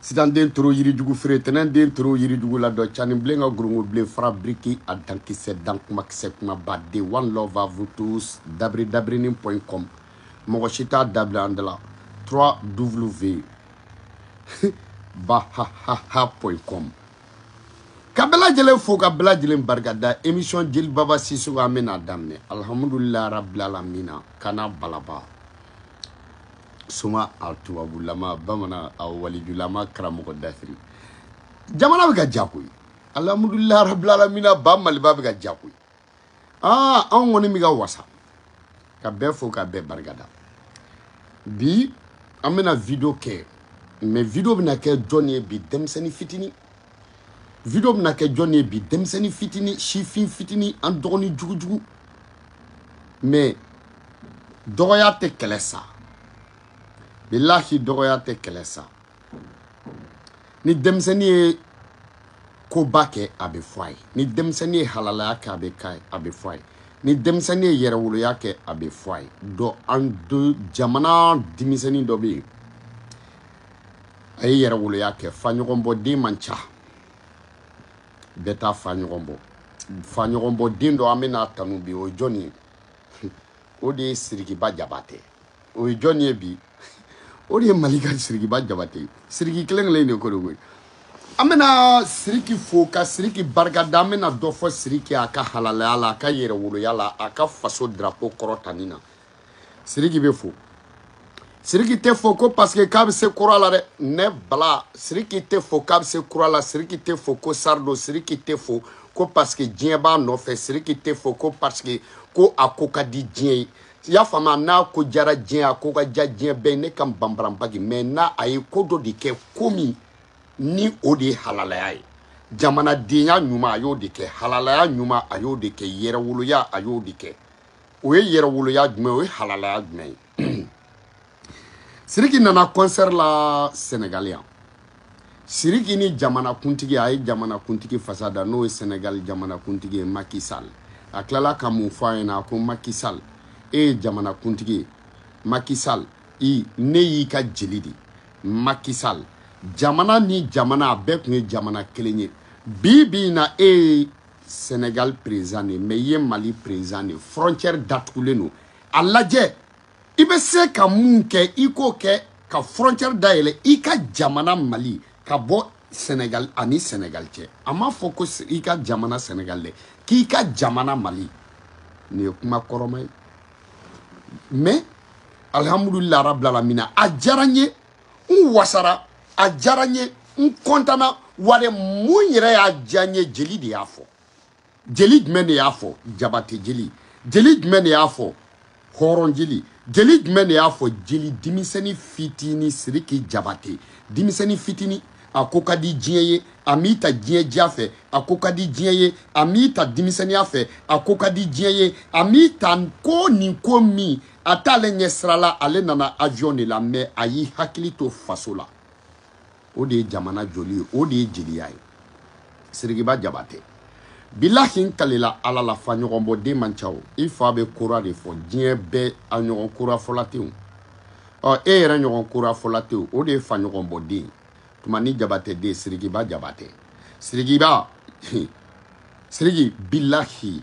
sidan den toro yirijugu feere tɛnɛn den toro yirijugu la dɔ cani bilen ka gorongo bilen fara biriki a dankisɛ dan kumakisɛ kumaba de one love à vous tous dabiri dabirinin point com mɔgɔ si t'a da bila an da la 3 w bahahaha point com ka bɛɛ lajɛlen fo ka bɛɛ lajɛlen barikada émission jeli baba sisoko an bɛna daminɛ alhamdulilayi rabilalamina kana balaba soma a tubabulama bamanan a walijulama karamɔgɔ dafiri jamana bɛ ka diya koyi alhamdulilayi rabilalamina ba maliba bɛ ka diya koyi aa anw kɔni bɛ ka wasa ka bɛɛ fo ka bɛɛ barikada bi an bɛna video kɛ mais video bɛna kɛ jɔn ye bi denmisɛnnin fitinin video bɛna kɛ jɔni ye bi denmisɛnnin fitini sifin fitini an dɔgɔni jugujugu mais dɔgɔya tɛ kɛlɛ sa bilahi dɔgɔya tɛ kɛlɛ sa ni denmisɛnnin ye koba kɛ a bɛ fɔ a ye ni denmisɛnnin ye halalaya kɛ a bɛ k'a ye a bɛ fɔ a ye ni denmisɛnnin ye yɛrɛwoloya kɛ a bɛ fɔ a ye dɔ an do jamana denmisɛnnin dɔ bɛ yen a ye yɛrɛwoloya kɛ fa ɲɔgɔn bɔ den man ca bɛɛ t'a fa ɲɔgɔn bɔ fa ɲɔgɔn bɔ den dɔ an bɛna tanu bi o ye jɔn ye o de ye sirikiba jabatɛ o ye jɔn ye bi o de ye mali ka sirikiba jabatɛ ye siriki kelen kelen de ko don koyi an bɛna siriki fo ka siriki barika da an bɛna dɔ fɔ siriki a ka halalaya la a ka yɛrɛwoloya la a ka faso drapo kɔrɔtani na siriki bɛ fo siriki tɛ fo ko paseke k'a bɛ se kora la dɛ ne bala siriki tɛ fo k'a bɛ se kora la siriki tɛ fo ko star don siriki tɛ fo ko paseke diɲɛ b'a nɔfɛ siriki tɛ fo ko paseke ko a ko ka di diɲɛ ye i y'a faamu n'a ko diyara diɲɛ a ko ka diya diɲɛ bɛɛ ne ka banbaranbagi mais n'a a ye ko dɔ de kɛ ko min ni o de ye halalaya ye jamanadenya ɲuman a y'o de kɛ halalaya ɲuman a y'o de kɛ yɛrɛwoloya a y'o de kɛ o ye yɛrɛwoloya jumɛn o ye halalaya jumɛn ye siriki nana kɔnsɛri la sɛnɛgali yan siriki ni jamana kuntigi a ye jamana kuntigi fasa da n'o ye sɛnɛgali jamana kuntigi ye maki sal a tilala ka mun fɔ a ɲɛna a ko maki sal e ye jamana kuntigi ye maki sal i ne y'i ka jeli de maki sal jamana ni jamana a bɛɛ tun ye jamana kelen ye bi bi in na e ye Sénégal président de mais i ye Mali président de frontière datugulen don a lajɛ i bɛ se ka mun kɛ i k'o kɛ ka frontière dayɛlɛ i ka jamana Mali ka bɔ Sénégal ani Sénégal cɛ a m'a fɔ ko i ka jamana Sénégal dɛ k'i ka jamana Mali nin ye kuma kɔrɔma ye mais alhamdulillah rabbil alamina a diyara n ye n wasara a diyara n ye n kɔntana wale mun yɛrɛ y'a diya n ye jeli de y'a fɔ jeli jumɛn de y'a fɔ jabate jeli jeli jumɛn de y'a fɔ hɔrɔn jeli jeli jumɛn de y'a fɔ jeli denmisɛnni fitini siriki jabate denmisɛnni fitini a ko ka di diɲɛ ye a m'i ta diɲɛ diya fɛ a ko ka di diɲɛ ye a m'i ta denmisɛnniya fɛ a ko ka di diɲɛ ye a m'i ta ko nin ko min a t'ale ɲɛ sira la ale nana avion de la mais a y'i hakili to faso la o de ye jamana joli ye o de ye jeliya ye sirikiba jabatɛ bilahi n kalela ala la fa ɲɔgɔn bɔ den man ca o i fa bɛ kora de fɔ diɲɛ bɛɛ a ɲɔgɔn kora fɔla tɛ yen o ɔ e yɛrɛ ɲɔgɔn kora fɔla tɛ yen o de ye fa ɲɔgɔn bɔ den tumani jabatɛ den sirikiba jabatɛ sirikiba siriki bilahi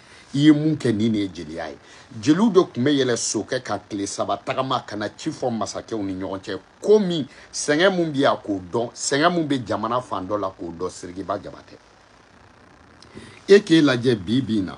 i ye mun kɛ nin de ye jeliya ye jeliw de tun bɛ yɛlɛ sokɛ kan tile saba tagama ka na ci fɔ masakɛw ni ɲɔgɔn cɛ ko min sɛgɛn min bɛ yan k'o dɔn sɛgɛn min bɛ jamana fan dɔ la k'o dɔn sirikiba jabatɛ e k'e lajɛ bi bi in na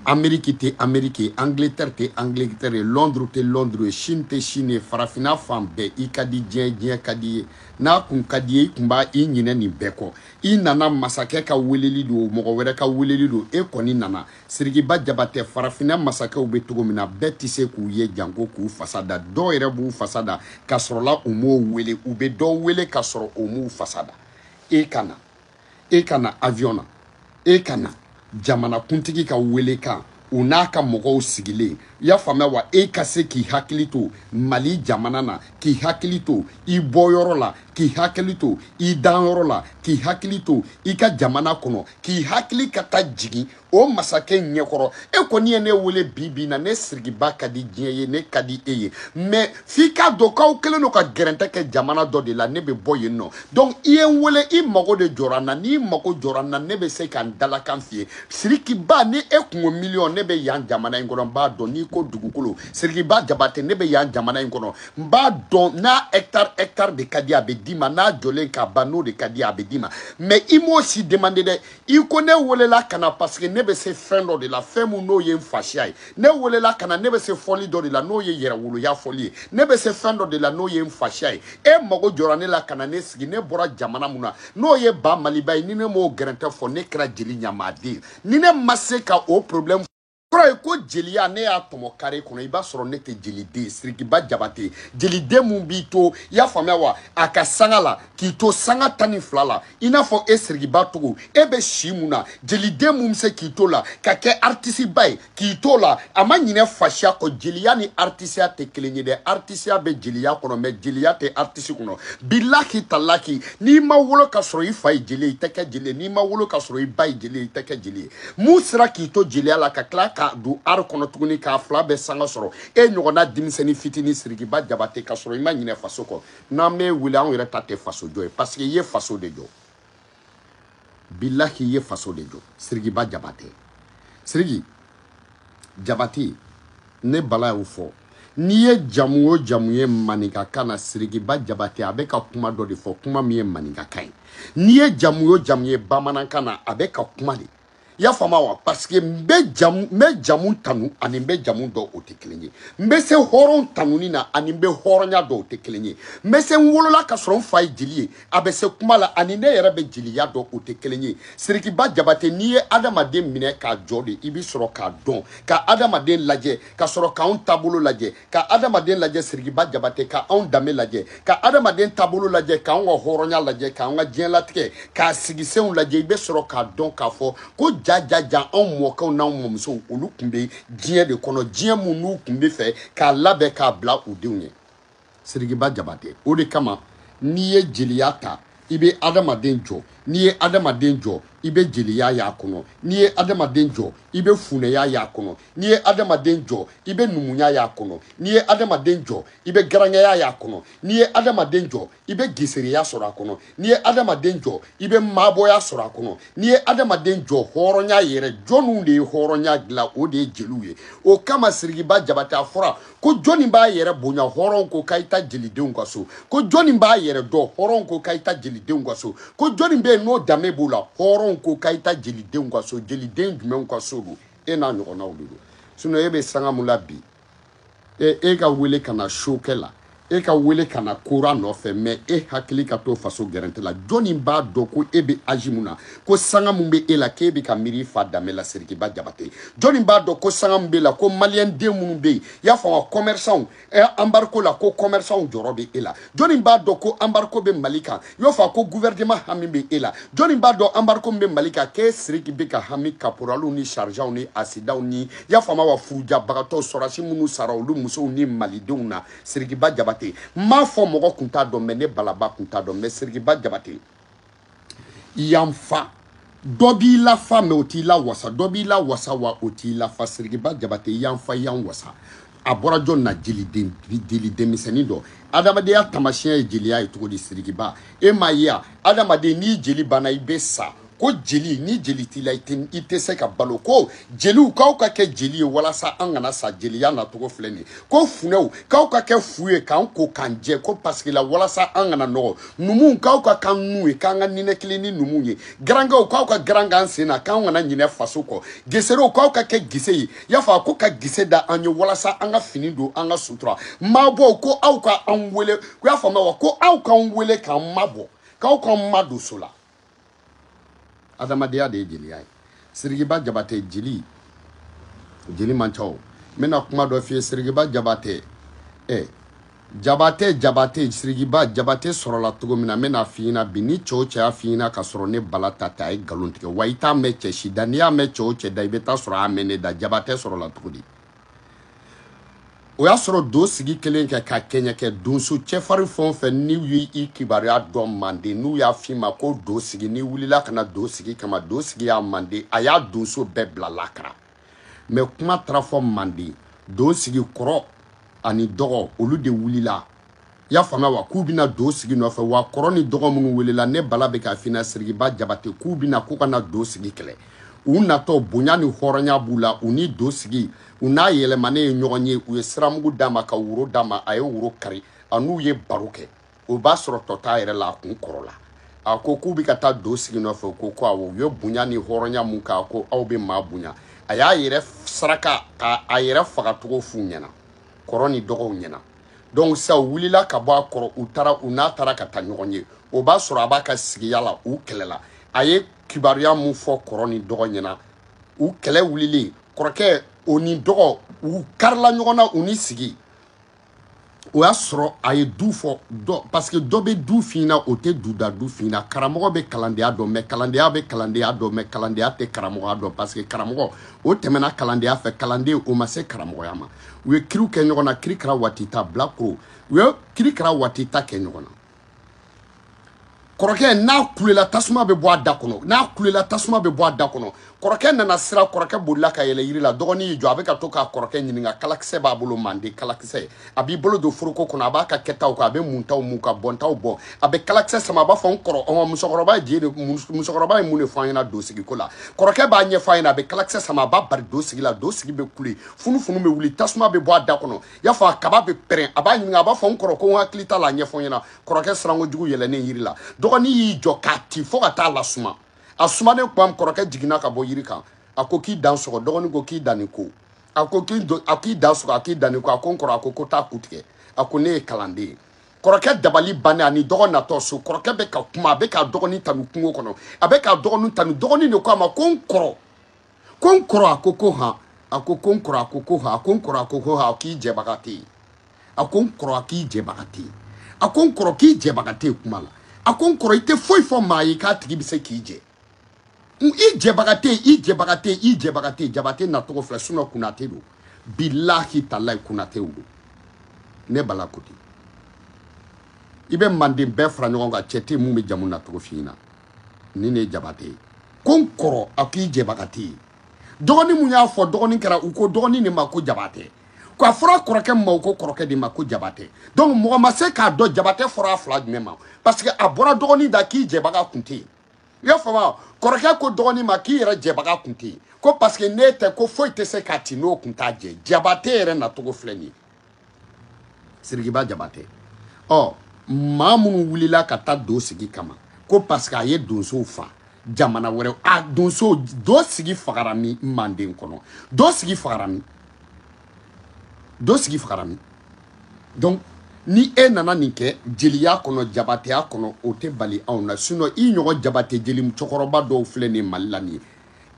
ameriki tɛ ameriki ye angletɛri tɛ angletɛri ye lɔnduru tɛ lɔnduru ye sini tɛ sini ye farafinna fan bɛɛ i ka di diɲɛ diɲɛ ka d'i ye n'a kun ka d'i ye i kun b'a i ɲinɛ nin bɛɛ kɔ i nana masakɛ ka weleli don mɔgɔ wɛrɛ ka weleli don e kɔni nana sirikiba jabatɛ farafinna masakɛw bɛ cogo min na bɛɛ tɛ se k'u ye janko k'u fasa da dɔw yɛrɛ b'u fasa da ka sɔrɔla u m'o wele u bɛ dɔw wele ka sɔrɔ u m'u fasa da e ka na e ka na avion na e ka na jamanakuntigi ka welekan u n'a ka mɔgɔw sigilen i y'a faamuya wa e ka se k'i hakili to mali jamana na k'i hakili to i bɔyɔrɔ la k'i hakili to i danyɔrɔ la k'i hakili to i ka jamana kɔnɔ k'i hakili ka taa jigin o masakɛ ɲɛkɔrɔ e kɔni ye ne wele bi bi na ne sirikiba ka di diɲɛ ye ne ka di e ye mais f'i k'a dɔn k'aw kelen don ka gɛrɛntɛ kɛ jamana dɔ de la ne bɛ bɔ yen nɔ donc i ye n wele i mago de jɔra n na n'i mago jɔra n na ne bɛ se ka n dalakan f'i ye sirikiba ni e kun ko miliyɔn ne bɛ yan jamana in kɔnɔ n b'a dɔn n'i ko dugukolo sirikiba jabate ne bɛ yan jamana in kɔnɔ n b'a dɔn n'a hectare hectare de ka di a bɛ d'i ma n'a jɔlen ka ban n'o de ka di a bɛ d'i ma mais i m'o si demande dɛ i ko ne welela ka na parce que ne bɛ se fɛn dɔ de la fɛn min n'o ye n fasiya ye ne welela ka na ne bɛ se fɔli dɔ de la n'o ye yɛrɛwoloya fɔli ye ne bɛ se fɛn dɔ de la n'o ye n fasiya ye e mago jɔra ne la ka na ne sigi ne bɔra jamana min na n'o ye ba maliba ye ni ne m'o gɛrɛntɛ fɔ ne kɛra jeli ɲamaden ye ni ne ma se ka o problème kɔrɔ ye ko jeliya ne y'a tɔmɔ kare kɔnɔ i b'a sɔrɔ ne tɛ jeliden ye sirikiba jabate jeliden mun b'i to i y'a faamuya wa a ka sanga la k'i to sanga tan ni fila la i n'a fɔ e sirikiba togo e bɛ si mun na jeliden mun bɛ se k'i to la ka kɛ aritisiba ye k'i to la a ma ɲinɛ fasiya kɔ jeliya ni aritisiya tɛ kelen ye dɛ aritisiya bɛ jeliya kɔnɔ mɛ jeliya tɛ aritisi kɔnɔ bilahi talahi n'i ma wolo ka sɔrɔ i fa ye jeli ye i tɛ kɛ jeli ye n'i ma wolo ka sɔrɔ i ba ye jeli ye i tɛ kɛ jeli ye mun sera k'i to jeliya la ka tila ka don art kɔnɔ tuguni k'a fila bɛɛ sanga sɔrɔ e ɲɔgɔnna denmisɛnnin fitinin sirikiba jabate ka sɔrɔ i ma ɲinɛ faso kɔ n'an bɛ wuli anw yɛrɛ ta tɛ faso jɔ ye parce que i ye faso de jɔ bilahi i ye faso de jɔ sirikiba jabate siriki jabate ne bala y'o fɔ n'i ye jamu o jamu ye maninkakan na sirikiba jabate a bɛ ka kuma dɔ de fɔ kuma min ye maninkakan ye n'i ye jamu o jamu ye bamanankan na a bɛ ka kuma de i y'a faamu wa parce que n bɛ jamu tanu ani n bɛ jamu dɔn o tɛ kelen ye n bɛ se hɔrɔn tanuni na ani n bɛ hɔrɔnya dɔn o tɛ kelen ye n bɛ se n wolola ka sɔrɔ n fa ye jeli ye a bɛ se kuma la ani ne yɛrɛ bɛ jeliya dɔn o tɛ kelen ye sirikiba jabate n'i ye adamaden minɛ k'a jɔ de i bɛ sɔrɔ k'a dɔn ka adamaden lajɛ ka sɔrɔ k'anw taabolo lajɛ ka adamaden lajɛ sirikiba jabate ka anw danbe lajɛ ka adamaden taabolo lajɛ k'anw ka hɔrɔnya lajɛ k'anw ka diɲɛlatigɛ k'a sigisenw lajɛ i bɛ sɔrɔ k'a dɔn k'a fɔ ko jajaja anw mɔkɛw n'anw mɔmusow olu tun bɛ diɲɛ de kɔnɔ diɲɛ mun n'u tun bɛ fɛ k'a labɛn k'a bila u denw ye sirikiba jabate o de kama n'i ye jeliya ta i bɛ adamaden jɔ n'i ye adamaden jɔ i bɛ jeliya y'a kɔnɔ n'i ye adamaden jɔ i bɛ funɛya y'a kɔnɔ n'i ye adamaden jɔ i bɛ numuya y'a kɔnɔ n'i ye adamaden jɔ i bɛ garankɛya y'a kɔnɔ n'i ye adamaden jɔ i bɛ gesereya sɔrɔ a kɔnɔ n'i ye adamaden jɔ i bɛ maabɔya sɔrɔ a kɔnɔ n'i ye adamaden jɔ hɔrɔnya yɛrɛ jɔnniw de ye hɔrɔnya dilan o de ye jeliw ye o kama sirikiba jabate a fɔra ko jɔnni b'a yɛrɛ bonya hɔrɔn ko ka i taa jelidenw ka so ko jɔnni b'a yɛrɛ dɔn hɔrɔn ko ka i taa jelidenw ka so ko jɔnni bɛ yen n'o danbe b'o la hɔrɔn ko ka i taa jelidenw ka so jeliden jumɛnw ka so don e n'a ɲɔgɔnna olu don sinɔn e bɛ sanga mun la bi e, e ka wele ka na show kɛ la e ka wele ka na kora nɔfɛ mɛ e hakili ka to faso gɛrɛntɛ la jɔni b'a dɔn ko e bɛ aji mun na ko sanga mun bɛ e la k'e bɛ ka miiri fa danbe la sirikiba jabate jɔni b'a dɔn ko sanga mun b'e la ko maliyɛnden minnu bɛ yen y'a faamu wa kɔmɛrisanw anbariko la ko kɔmɛrisanw jɔrɔ bɛ e la jɔnni b'a dɔn ko anbariko bɛ mali kan y'a faamu wa ko guvɛrɛnema hami bɛ e la jɔnni b'a dɔn anbariko min bɛ mali kan k'e siriki bɛ ka hami kaporaliw ni sarijanw ni asidanw ni y'a faamu wa furujabagatɔw sɔrɔdasi minnu sara olu musow ni malidenw na sirikiba jabate n m'a fɔ mɔgɔ kun t'a dɔn mɛ ne balaba kun t'a dɔn mɛ sirikiba jabate y'an fa dɔ b'i lafa mɛ o t'i lawasa dɔ b'i lawasa wa o t'i lafa sirikiba jabate y'an fa y'an wasa a bɔra jɔn na jeli denmisɛnnin dɔ adamadenya tamasiyɛn ye jeliya ye cogo di sirikiba e m'a ye a adamaden n'i jeli banna i bɛ sa ko jeli ni jeli t'i la i tɛ se ka balo ko jeliw k'aw ka kɛ jeli ye walasa an kana sa jeliya nacogo filɛ nin ye ko funɛw k'aw ka kɛ fu ye k'an ko k'an jɛ ko parce que la walasa an kana nɔgɔ numuw k'aw ka k'an nun ye k'an ka ninɛkili ni numuw ye garankɛw k'aw ka garan k'an sen na k'an kana ɲinɛ faso kɔ geserew k'aw ka kɛ gese ye y'a fɔ a ko ka gese da an ye walasa an ka fini don an ka sutura mabɔw ko aw ka an wele i y'a faamuya wa ko aw k'an wele k'an mabɔ k'aw k'an madon so la adamadenya de ye jeliya ye sirikiba jabatɛ jeli jeli man ca o n bɛna kuma dɔ f'i ye sirikiba jabatɛ ɛ jabatɛ jabatɛ sirikiba jabatɛ sɔrɔla cogo min na n bɛn'a f'i ɲɛna bi ni cɛ o cɛ y'a f'i ɲɛna ka sɔrɔ ne bala ta tɛ a ye nkalon tigɛ wa i t'a mɛn cɛ si da n'i y'a mɛn cɛ o cɛ da i bɛ t'a sɔrɔ a y'a mɛn ne da jabatɛ sɔrɔla cogo di o y'a sɔrɔ do sigi kelen kɛ ka kɛɲɛ kɛ donso cɛfarin fɛn o fɛn n'u ye i kibaruya dɔn manden n'u y'a f'i ma ko do sigi n'i wulila ka na do sigi kama do sigi y'a manden a y'a donso bɛɛ bila lakara mɛ kuma taara fɔ manden do sigi kɔrɔ ani dɔgɔ olu de wulila i y'a faamuya wa k'u bɛ na do sigi nɔfɛ wa kɔrɔ ni dɔgɔ minnu welela ne bala bɛ k'a f'i ɲɛna sirikiba jabate k'u bɛ na k'u ka na do sigi kɛlɛ u natɔ bonya ni hɔrɔnya b'u la u ni do sigi u n'a yɛlɛmanen ye ɲɔgɔn ye u ye siramugu d'a ma ka woro d'a ma a ye woro kari a n'u ye baro kɛ o b'a sɔrɔ tɔ t'a yɛrɛ la a kun kɔrɔla a ko k'u bɛ ka taa do sigi nɔfɛ u ko ko awɔ u ye bonya ni hɔrɔnya mun k'a ko aw bɛ maa bonya a y'a yɛrɛ saraka k'a a yɛrɛ fagacogo f'u ɲɛna kɔrɔ ni dɔgɔw ɲɛna donc sa u wulila ka bɔ a kɔrɔ u taara u n'a taara ka taa ɲɔgɔn ye o b'a sɔrɔ a b'a ka sigiya la u kɛlɛla a ye kibaruya mun fɔ kɔrɔ ni dɔgɔ ɲɛna u kɛlɛ wulilen kɔrɔkɛ o ni dɔgɔ u karila ɲɔgɔn na u ni sigi o y'a sɔrɔ a ye du fɔ dɔ parce que dɔ bɛ du f'i ɲɛna o tɛ duda du f'i ɲɛna karamɔgɔ bɛ kalandenya dɔn mɛ kalandenya bɛ kalandenya dɔn mɛ kalandenya tɛ karamɔgɔya dɔn parce que karamɔgɔ o tɛmɛna kalandenya fɛ kalanden o ma se karamɔgɔya ma u ye kiriw kɛ ɲɔgɔn na kirikara watita bilakoro u ye kirikara watita kɛ ɲɔgɔn na kɔrɔkɛ n'a kulela tasuma bɛ bɔ a da kɔnɔ n'a kulela tasuma bɛ bɔ a da kɔnɔ kɔrɔkɛ nana siran kɔrɔkɛ bolila ka yɛlɛ yiri la dɔgɔnin y'i jɔ a bɛ ka to k'a kɔrɔkɛ ɲininka kalakisɛ b'a bolo manden kalakisɛ a b'i bolo don foroko kɔnɔ a b'a ka kɛtaw kan a bɛ muntaw mun ka bɔntaw bɔn a bɛ kalakisɛ sama a b'a fɔ n kɔrɔ ɔn musokɔrɔba ye je de musokɔrɔba ye mun de fɔ an ɲɛna do sigiko la kɔrɔkɛ b'a ɲɛfɔ a ɲɛna a bɛ kalakisɛ sama a b'a bari do sigi la do sigi bɛ kule funufunu bɛ wuli tasuma bɛ bɔ a da kɔnɔ y'a fɔ a kaba bɛ pɛrɛn a b'a ɲininka a b'a fɔ n kɔrɔ ko n hakili t'a la a ɲɛfɔ n ɲɛna kɔrɔkɛ siranko jugu yɛlɛnnen yiri la dɔgɔnin y'i jɔ k'a ti fo ka t'a lasuma a sumanen kuma min kɔrɔkɛ jiginna ka bɔ yiri kan a ko k'i dan sɔgɔ dɔgɔnin ko k'i dan nin ko a ko k'i do a k'i dan sɔgɔ a k'i dan nin ko a ko n kɔrɔ a ko ko taa ku tigɛ a ko ne ye kalanden ye kɔrɔkɛ dabali bannen ani dɔgɔ natɔ so kɔrɔkɛ bɛ ka kuma a bɛ k'a dɔgɔnin tanu kungo kɔnɔ a bɛ k'a dɔgɔnin tanu dɔgɔnin de ko a ma ko n kɔrɔ ko n kɔrɔ a ko ko han a ko ko n kɔrɔ a ko ko han a ko n kɔrɔ a ko ko han k'i jɛbaga tɛ yen a ko n kɔrɔ a k'i jɛbaga tɛ yen a ko n kɔrɔ k'i jɛbaga tɛ yen kuma la a ko n kɔrɔ i tɛ foyi fɔ maa ye k'a tigi bɛ se k'i jɛ i jɛbaga tɛ yen i jɛbaga tɛ yen i jɛbaga tɛ yen jabate nacogo filɛ sinon kunate don bilahi talayi kunatew don ne bala ko ten i bɛ manden bɛɛ fara ɲɔgɔn kan cɛ tɛ yen mun bɛ jamu nacogo f'i ɲɛna ni ne jabate ye ko n kɔrɔ a k'i jɛbaga tɛ yen dɔgɔnin mun y'a fɔ dɔgɔnin kɛra u ko dɔgɔnin de ma ko jabatɛ ko a fɔra kɔrɔkɛ ma u ko kɔrɔkɛ de ma ko jabatɛ donc mɔgɔ ma se k'a dɔn jabatɛ fɔra a fila jumɛn ma parce que a bɔra dɔgɔnin da k'i jɛbaga kun tɛ yen i y'a faamu kɔrɔkɛ ko dɔgɔnin ma k'i yɛrɛ jɛbaga kun tɛ yen ko parce que n'e tɛ ko foyi tɛ se k'a ti n'o kun t'a jɛ jabatɛ yɛrɛ nacogo filɛ nin ye sirikiba jabatɛ ɔ maa minnu wulila ka taa do sigi kama ko parce que a ye donsow fa jamana wɛrɛ a donso do sigi fagara min manden kɔnɔ do sigi fagara min do sigi fagara min donc ni e nana nin kɛ jeliya kɔnɔ jabateya kɔnɔ o tɛ bali anw na sinon i ɲɔgɔn jabate jeli cɛkɔrɔba dɔw filɛ nin mali la nin ye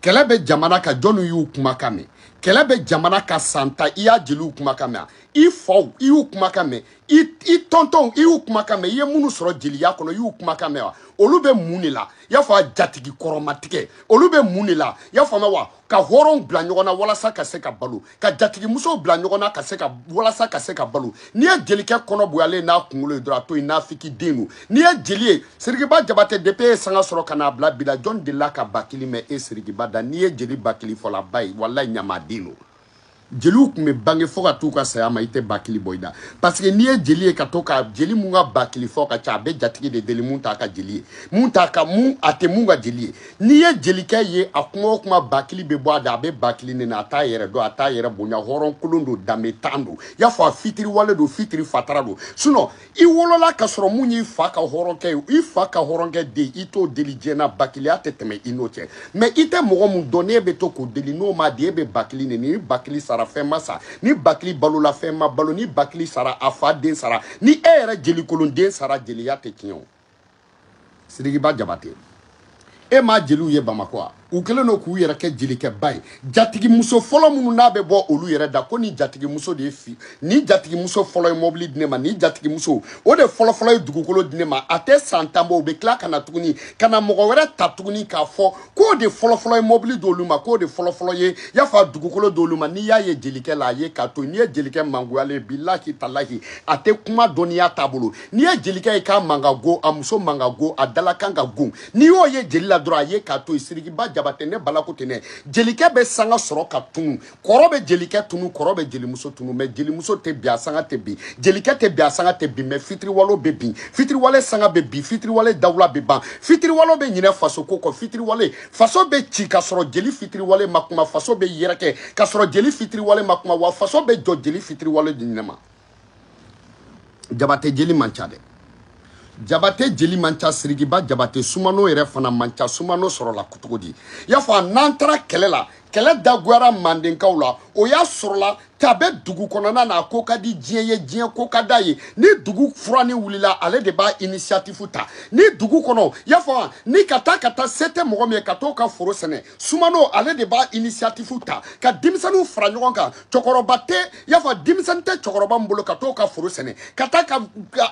kɛlɛ bɛ jamana kan jɔnni y'u kumakan mɛn kɛlɛ bɛ jamana kan san tan i y'a jeliw kumakan mɛn i faw i y'u kumakan mɛn i i tɔntɔnw i y'u kumakan mɛn i ye minnu sɔrɔ jeliya kɔnɔ i y'u kumakan mɛn wa olu bɛ mun de la i y'a fɔ a jatigi kɔrɔmatigɛ olu bɛ mun de la i y'a faamu wa ka hɔrɔnw bila ɲɔgɔn na walasa ka se ka balo ka jatigimusow bila ɲɔgɔn na ka se ka walasa ka se ka balo n'i ye jelikɛ kɔnɔ bonyalen n'a kunkolo ye dɔrɔn a to yen naafigi den don n'i ye jeli ye sirikiba jabatɛ depuis i ye sanga sɔrɔ ka n'a bila bi la jɔn delila ka bakili mɛn e sirikiba da n'i ye jeli bakili fɔlaba ye walayi ɲamaden don jeliw tun bɛ bange fo ka t'u ka saya ma i tɛ bakili bɔ i da parce que n'i ye jeli ye ka to ka jeli mun ka bakili fɔ ka ca a bɛ jatigi de deli mun t'a ka jeli ye mun t'a ka mun a tɛ mun ka jeli ye n'i ye jelikɛ ye a kuma o kuma bakili bɛ bɔ a da a bɛ bakili nɛni a t'a yɛrɛ dɔn a t'a yɛrɛ bonya hɔrɔn kolon don danbentan don y'a fɔ a fitiriwale don fitiri fatara don sinon i wolola ka sɔrɔ mun y'i fa ka hɔrɔnkɛ ye i fa ka hɔrɔnkɛ den i t'o deli diɲɛ na bakiliya tɛ tɛmɛ i n'o cɛ mais i tɛ mɔgɔ mun dɔn n'e bɛ to k'o deli n'o ma di e bɛ bakili nɛni ni bakili sara fɛn ma sa ni bakili balola fɛn ma balo ni bakili sara a fa den sara ni e yɛrɛ jelikolonden sara jeliya tɛ tiɲɛ o sirikiba jabate e ma jeliw ye bamakɔ a u kɛlen don k'u yɛrɛ kɛ jelikɛba ye jatigimuso fɔlɔ minnu n'a bɛ bɔ olu yɛrɛ da ko nin jatigimuso de ye fi ni jatigimuso fɔlɔ ye mɔbili di ne ma ni jatigimuso o de fɔlɔfɔlɔ ye dugukolo di ne ma a tɛ san tan bɔ u bɛ tila ka na tuguni ka na mɔgɔ wɛrɛ ta tuguni k'a fɔ k'o de fɔlɔfɔlɔ ye mɔbili di olu ma k'o de fɔlɔfɔlɔ ye y'a fɔ a dugukolo di olu ma n'i y'a ye jelikɛ la a ye k'a to n'i ye jelikɛ mangoyalen ye bilahi talahi a tɛ kuma dɔnniya t'a bolo n'i ye jelikɛ ye k'a man ka go a muso man ka go a dalakan ka go n'i y'o ye jeli la dɔrɔn a ye k'a to yen sirikiba jabate ne balako tɛ ne jelikɛ bɛ sanga sɔrɔ ka tunu kɔrɔ bɛ jelikɛ tunu kɔrɔ bɛ jelimuso tunu mɛ jelimuso tɛ bin a sanga tɛ bin jelikɛ tɛ bin a sanga tɛ bin mɛ fitiriwale bɛ bin fitiriwale sanga bɛ bin fitiriwale dawula bɛ ban fitiriwale bɛ ɲinɛ faso ko kɔ fitiriwale faso bɛ ci ka sɔrɔ jeli fitiriwale ma kuma faso bɛ yɛrɛkɛ ka sɔrɔ jeli fitiriwale ma kuma wa faso bɛ jɔ jeli fitiriwale de ɲinɛ ma jabate jeli man ca dɛ jabate jeli man ca sirikiba jabate sumano yɛrɛ fana man ca sumano sɔrɔla cogo di y'a fɔ a n'an taara kɛlɛ la kɛlɛ dagoyara mandenkaw la o y'a sɔrɔla cɛ bɛ dugu kɔnɔna na a ko ka di diɲɛ ye diɲɛ ko ka d'a ye ni dugu furanni wulila ale de b'a initiative ta ni dugu kɔnɔ y'a fɔ ni ka taa ka taa se tɛ mɔgɔ min ye ka t'o ka foro sɛnɛ sumano ale de b'a initiative ta ka denmisɛnninw fara ɲɔgɔn kan cɛkɔrɔba tɛ y'a fɔ denmisɛnnin tɛ cɛkɔrɔba min bolo ka t'o ka foro sɛnɛ ka taa ka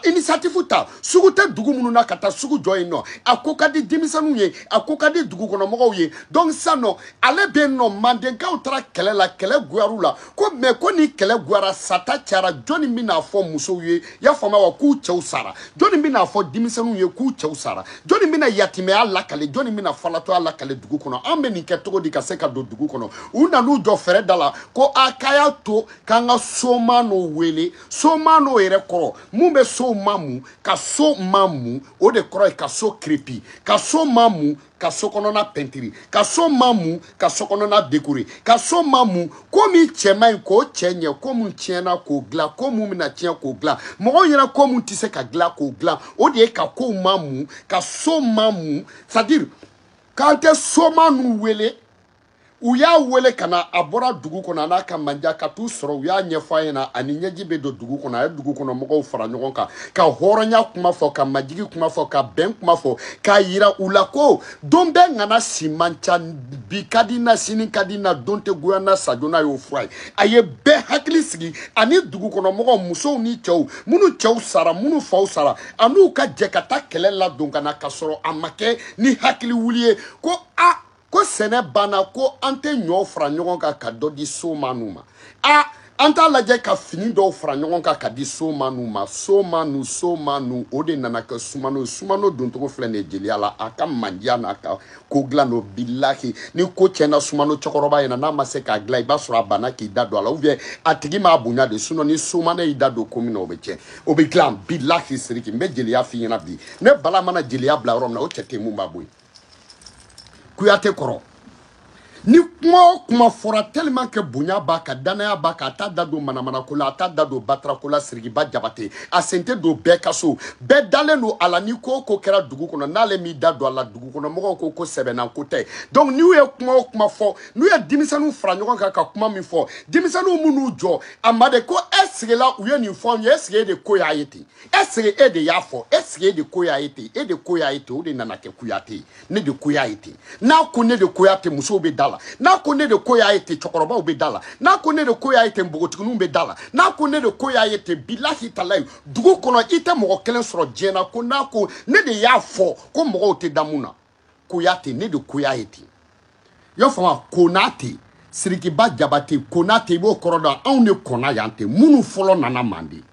initiative ta sugu tɛ dugu minnu na ka taa sugu jɔ yen nɔ a ko ka di denmisɛnninw ye a ko ka di dugukɔnɔmɔgɔw ye donc sisan nɔ ale bɛ yen nɔ mandenkaw taara kɛlɛ la kɛlɛ goyar'u la ko mɛ ko ni kɛlɛ gwara sata cara jɔni bɛn'a fɔ musow ye y'a faamu wa k'u cɛw sara jɔni bɛn'a fɔ denmisɛnninw ye k'u cɛw sara jɔni bɛna yatimɛya lakale jɔni bɛna falatɔya lakale dugu kɔnɔ an bɛ nin kɛ cogo di ka se ka don dugu kɔnɔ u nan'u jɔ fɛrɛ da la ko a k'a y'a to k'an ka somano wele somano yɛrɛ kɔrɔ mun bɛ sow mamu ka so mamu o de kɔrɔ ye ka so kirepi ka so mamu ka so kɔnɔna pɛntiri ka so mamu ka so kɔnɔna dekore ka so mamu ko min cɛ man ɲi k'o cɛɲɛ ko mun tiɲɛna k'o dilan ko mun bɛna tiɲɛ k'o dilan mɔgɔw ɲɛ na ko mun tɛ se ka dilan k'o dilan o de ye ka kow mamu ka so mamu c'est à dire k'an tɛ somano wele u y'a wele ka na a bɔra dugu kɔnɔ an'a ka manja ka t'u sɔrɔ u y'a ɲɛfɔ a ɲɛ na yani ɲɛji bɛ don dugu kɔnɔ a ye dugu kɔnɔ mɔgɔw fara ɲɔgɔn kan ka hɔrɔnya kuma fɔ ka majigi kuma fɔ ka bɛn kuma fɔ k'a yira u la ko don bɛɛ ŋana si man ca bi ka di n na sini ka di n na don tɛ goya n na sajona y'o fura ye a ye bɛɛ hakili sigi ani dugu kɔnɔ mɔgɔw musow ni cɛw minnu cɛw sara minnu faw sara an'u ka jɛ ka taa kɛlɛ ladon ka na ka sɔrɔ a ma kɛ ni hakili wuli ye ko a ko sɛnɛ banna ko an tɛ ɲɔ fara ɲɔgɔn kan ka dɔ di somanu ma a an t'a lajɛ ka fini dɔw fara ɲɔgɔn kan ka di somanu ma somanu somanu o de nana kɛ sumano ye sumano doncogo filɛ nin ye jeliya la a ka mandiya n'a ka ko dilan don bilahi ni ko tiɲɛna sumano cɛkɔrɔba ɲɛna n'a ma se k'a dilan i b'a sɔrɔ a banna k'i da don a la ou bien a tigi m'a bonya de sinon ni sumano y'i da don ko min na o bɛ tiɲɛ o bɛ dilan bilahi siriki n bɛ jeliya f'i ɲɛna bi ne bala mana jeliya bila yɔrɔ min na o cɛ tɛ mun b'a bɔ yen kuyate kɔrɔ ni kuma o kuma fɔra tellement que bonya b'a kan danaya b'a kan a t'a da don manamanako la a t'a da don batarako la sirikiba jabate a sen tɛ don bɛɛ ka so bɛɛ dalen don a la ni ko o ko kɛra dugu kɔnɔ n'ale m'i da don a la dugu kɔnɔ mɔgɔw ko ko sɛbɛnna ko tɛ donc n'u ye kuma o kuma fɔ n'u ye denmisɛnninw fara ɲɔgɔn kan ka kuma min fɔ denmisɛnninw minnu jɔ a ma de ko est-ce que la u ye nin fɔ anw ye est-ce que e de ko y'a ye ten est-ce que e de y'a fɔ est-ce que e de ko y'a ye ten e de ko y'a ye ten o de nana kɛ kuyate ye ne de ko y'a ye ten n'a ko ne de ko y'a ten musow bɛ da la n'a ko ne de ko y'a ye ten cɛkɔrɔbaw bɛ da la n'a ko ne de ko y'a ye ten npogotigininw bɛ da la n'a ko ne de ko y'a ye ten bilahi talayi dugu kɔnɔ i tɛ mɔgɔ kelen sɔrɔ diɲɛ na ko n'a ko ne de y'a fɔ ko mɔgɔw tɛ da mun na kuyate ne de ko y'a ye ten i y'a faamu konate sirikiba jabate konate i b'o kɔrɔ dɔn anw de kɔnna yan ten minnu fɔlɔ nana manden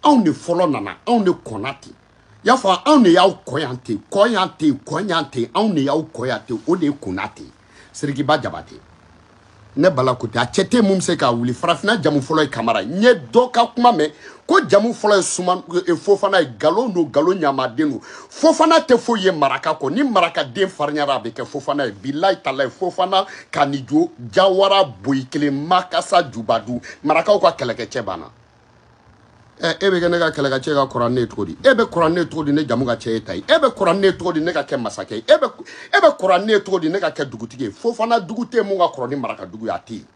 anw de fɔlɔ nana anw de kɔnna ten i y'a faamu anw de y'aw kɔn yan ten kɔn yan ten kɔn yan ten anw de y'aw kɔn yan ten o de ye konate sirikiba jabate ne bala ko ten a cɛ tɛ mun bɛ se k'a wuli farafina jamu fɔlɔ ye kamara ye n ye dɔ ka kuma mɛn ko jamu fɔlɔ ye suman e, fofana ye galon don galon ɲamaden don fofana tɛ foyi ye maraka kɔ ni marakaden farinyara a bɛ kɛ fofana ye bilayi talayi fofana kanijo jawara boyi kelen makasa jubadu marakaw ka kɛlɛkɛcɛ banna ɛ e bɛ kɛ ne ka kɛlɛkɛcɛ ka kɔrɔ ne ye cogo di e bɛ kɔrɔ ne ye cogo di ne jamu ka ca e ta ye e bɛ kɔrɔ ne ye cogo di ne ka kɛ masakɛ ye e bɛ e bɛ kɔrɔ ne ye cogo di ne ka kɛ dugutigi ye fofana dugu tɛ mun ka kɔrɔ ni maraka dugu ye a tɛ yen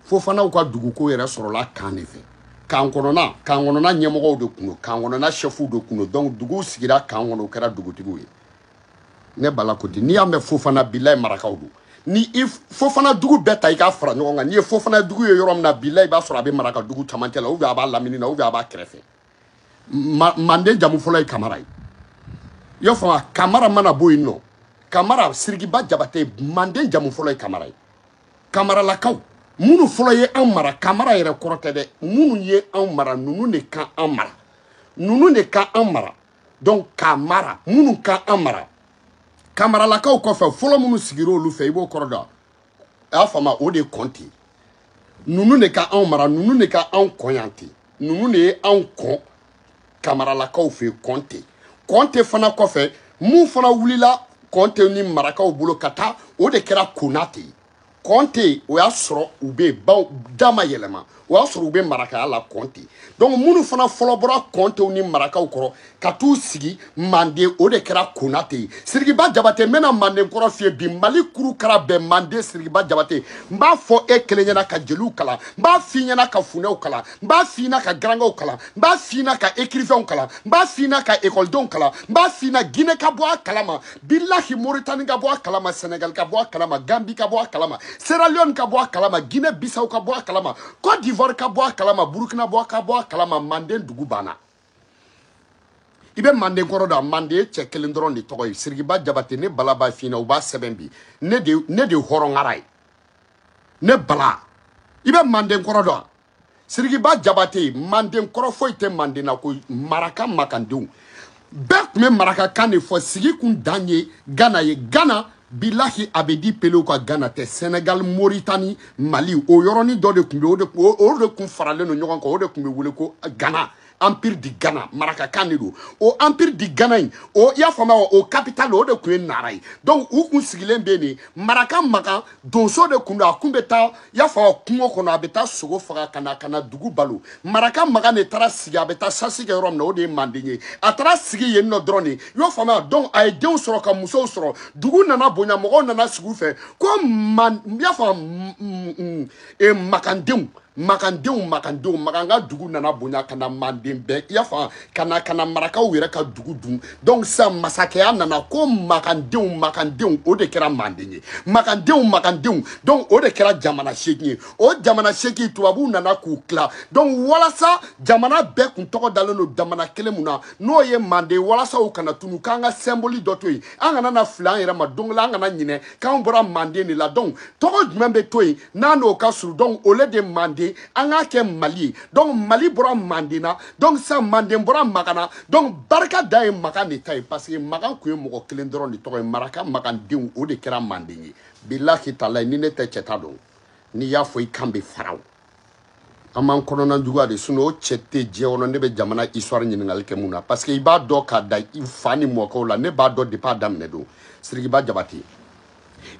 fofanaw ka duguko yɛrɛ sɔrɔla kan de fɛ kan kɔnɔna kan kɔnɔna ɲɛmɔgɔw de tun don kan kɔnɔna sɛfuw de tun don donc duguw sigira kan kɔnɔ u kɛra dugutigiw ye ne bala ko di n'i y'a mɛn fofana bilayi marakaw don ni i fofana dugu bɛɛ ta i k'a fara ɲɔgɔn kan n'i ye fofana dugu ye yɔrɔ min na bilayi i b'a sɔrɔ a bɛ maraka dugu camancɛ la ou bien a b'a lamini na ou bien a b'a kɛrɛfɛ ma manden jamu fɔlɔ ye kamara ye i y'a faamu kamara mana bɔ yen nɔ kamara sirikiba jabate manden jamu fɔlɔ ye kamara ye kamaralakaw minnu fɔlɔ ye anw mara kamara yɛrɛ kɔrɔ tɛ dɛ minnu ye anw mara ninnu de ka an mara ninnu de ka an mara donc kamara minnu ka an mara kamaralakaw kɔfɛ fɔlɔ minnu sigira olu fɛ i b'o kɔrɔ dɔn a y'a faamu o de ye kɔnte ninnu de ka anw mara ninnu de ka anw kɔn yan ten ninnu de ye anw kɔn kamaralakaw fɛ kɔnte kɔnte fana kɔfɛ mun fana wulila kɔnte ni marakaw bolo ka taa o de kɛra konate ye kɔnte o y'a sɔrɔ u bɛ ba da ma yɛlɛma o y'a sɔrɔ u bɛ marakaya la kɔnte donc minnu fana fɔlɔ bɔra kɔntew ni marakaw kɔrɔ ka t'u sigi manden o de kɛra konate ye sirikiba jabate n bɛna manden kɔrɔ f'i ye bi mali kuru kara bɛɛ manden sirikiba jabate n b'a fɔ e kelen ɲɛna ka jeliw kalan n b'a f'i ɲɛna ka funɛw kalan n b'a f'i ɲɛna ka garangaw kalan n b'a f'i ɲɛna ka écrivainw kalan n b'a f'i ɲɛna ka ekɔlidenw kalan n b'a f'i ɲɛna gine ka bɔ a kalama bilahi moritani ka bɔ a kalama senegal ka bɔ a kalama gambi ka bɔ a kalama sierra leone ka bɔ a kalama guinée bissau ka bɔ a kalama côte d'ivoire ka bɔ a kalama burkina bɔ ka bɔ a kalama manden dugu banna i bɛ manden kɔrɔ dɔn manden ye cɛ kelen dɔrɔn de tɔgɔ ye sirikiba jabate ne bala b'a f'i ɲɛna u b'a sɛbɛn bi ne de hɔrɔn ŋara ye ne bala i bɛ manden kɔrɔ dɔn sirikiba jabate manden kɔrɔ foyi tɛ manden na ko maraka makandenw bɛɛ kun bɛ marakakan de fɔ sigi kun dan ye gana ye gana bilahi abedi pelew ka gana tɛ senegal moritani mali o yɔrɔnin dɔ de kun bɛ o de kun faralen don ɲɔgɔn kan o de kun bɛ wele ko gana empire du ghana marakakan de don o empire du ghana in o i y'a faamuya wa o capital o de kun ye nara ye donc u kun sigilen bɛ nin maraka makan donso de kun don a kun bɛ taa i y'a faamuya kungo kɔnɔ a bɛ taa sogo faga ka na ka na dugu balo maraka makan de taara sigi a bɛ taa sasi kɛ yɔrɔ min na o de ye manden ye a taara sigi yen nɔ dɔrɔn de i y'o faamuya donc a ye denw sɔrɔ ka musow sɔrɔ dugu nana bonya mɔgɔw nana sigi u fɛ ko man i y'a faamuya makandenw makandenw makandenw makan ka dugu nana bonya ka na manden bɛɛ i y'a faamu ka na ka na marakaw yɛrɛ ka dugu dun donc sisan masakɛya nana ko makandenw makandenw o de kɛra manden ye makandenw makandenw donc o de kɛra jamana seegin ye o jamana seegin tubabuw nana k'u tila donc walasa jamana bɛɛ kun tɔgɔ dalen don jamana kelen mun na n'o ye manden walasa o kana tunu k'an ka sɛnboli dɔ to yen an kana na fili an yɛrɛ ma don dɔ la an kana ɲinɛ k'an bɔra manden de la donc tɔgɔ jumɛn bɛ to yen n'an n'o ka surun donc au lieu de manden an k'a kɛ mali ye donc mali bɔra manden na donc sisan manden bɔra makan na donc barika da ye makan de ta ye parce que makan kun ye mɔgɔ kelen dɔrɔn de tɔgɔ ye maraka makandenw o de kɛra manden ye bilahi talahi ni ne tɛ cɛta dɔn n'i y'a fɔ i kan bɛ fara o an m'an kɔnɔna juguya de sinon o cɛ tɛ diɲɛ kɔnɔ ne bɛ jamana histoire ɲininkali kɛ mun na parce que i b'a dɔn k'a da i fa ni mɔkɛw la ne b'a dɔn depuis a daminɛ don sirikiba jabate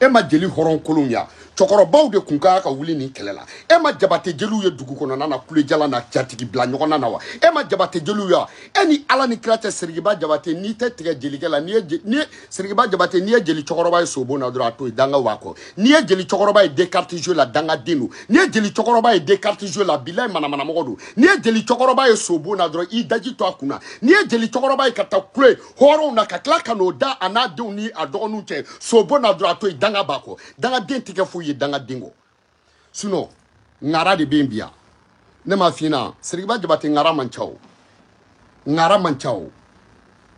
e ma jeli hɔrɔn kolonw ya cɛkɔrɔbaw de kun ka kan ka wuli nin kɛlɛ la e ma jabate jeliw ye dugu kɔnɔna na kulejalan na jatigi bila ɲɔgɔnna na wa e ma jabate jeliw ye e ni ala ni kira cɛ sirikiba jabate n'i tɛ tigɛ jelikɛ la n'i ye sirikiba jabate n'i ye jeli cɛkɔrɔba ye sobo na dɔrɔn a to yen danga b'a kɔ n'i ye jeli cɛkɔrɔba ye descartes jeu la dangaden don n'i ye jeli cɛkɔrɔba ye descartes jeu la bilayi manamanamɔgɔ don n'i ye jeli cɛkɔrɔba ye sobo na dɔrɔn i daji to a kun na n'i ye jeli cɛkɔrɔba ye ka taa kule hɔrɔnw na ka tila ka n'o da a n'a denw ni a dɔgɔninw cɛ sobo na dɔrɔn a to yen danga b'a kɔ dangaden tɛ kɛ foyi ye dangaden kɔ sinon ŋara de bɛ yen bi yan ne m'a f'i ɲɛna sirikiba jabate ŋara man ca o ŋara man ca o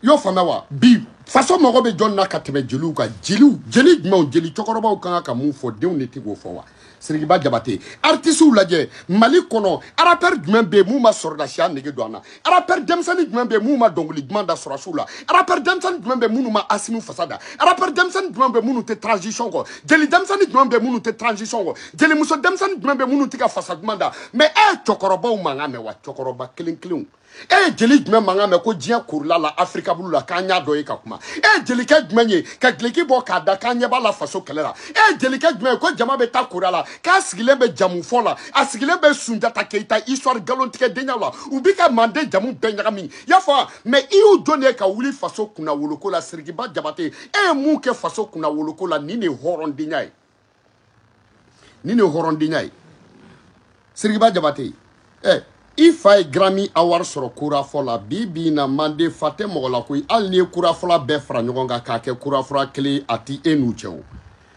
i y'o faamuya wa bi faso mago bɛ jɔn na ka tɛmɛ jeliw kan jeliw jeli jumɛnw jeli cɛkɔrɔbaw kan ka mun fɔ denw de tɛ k'o fɔ wa sirikiba jabate artisiw lajɛ mali kɔnɔ arapɛri jumɛn bɛ yen mun ma sɔrɔdasiya nege don an na Arapɛri denmisɛnnin jumɛn bɛ yen mun ma dɔnkili duman da sɔrɔdasiw la arapɛri denmisɛnnin jumɛn bɛ yen mun ma asimi fasa da arapɛri denmisɛnnin jumɛn bɛ yen mun tɛ transition kɔ jeli denmisɛnnin jumɛn bɛ yen mun tɛ transition kɔ jelimuso denmisɛnnin jumɛn bɛ yen mun tɛ ka fasa duman da mais e ye cɛkɔrɔbaw mankan mɛn wa cɛkɔrɔba kelen kelenw e ye jeli jumɛn mankan mɛn ko diɲɛ korila la africable la k'an y'a dɔ ye ka kuma e ye jelikɛ jumɛn ye ka gileki bɔ k'a da k'an ɲɛ b'a la faso kɛlɛ la e ye jelikɛ jumɛn ye ko jama bɛ taa kora la k'a sigilen bɛ jamu fɔ la a sigilen bɛ sunjata keyita histoire galontigɛ denya la u bi ka manden jamu bɛɛ ɲagami y'a fɔ mais i y'u jɔn de ye ka wuli faso kunnawoloko la sirikiba jabate e ye mun kɛ faso kunnawoloko la nin de ye hɔrɔndenya ye nin de ye hɔrɔndenya ye sirikiba jabate ɛ i fa ye grammy award sɔrɔ korafɔ la bi bi na manden fa tɛ mɔgɔ la koyi hali n'i ye korafɔla bɛɛ fara ɲɔgɔn kan k'a kɛ korafɔla kelen ye a ti e n'u cɛ o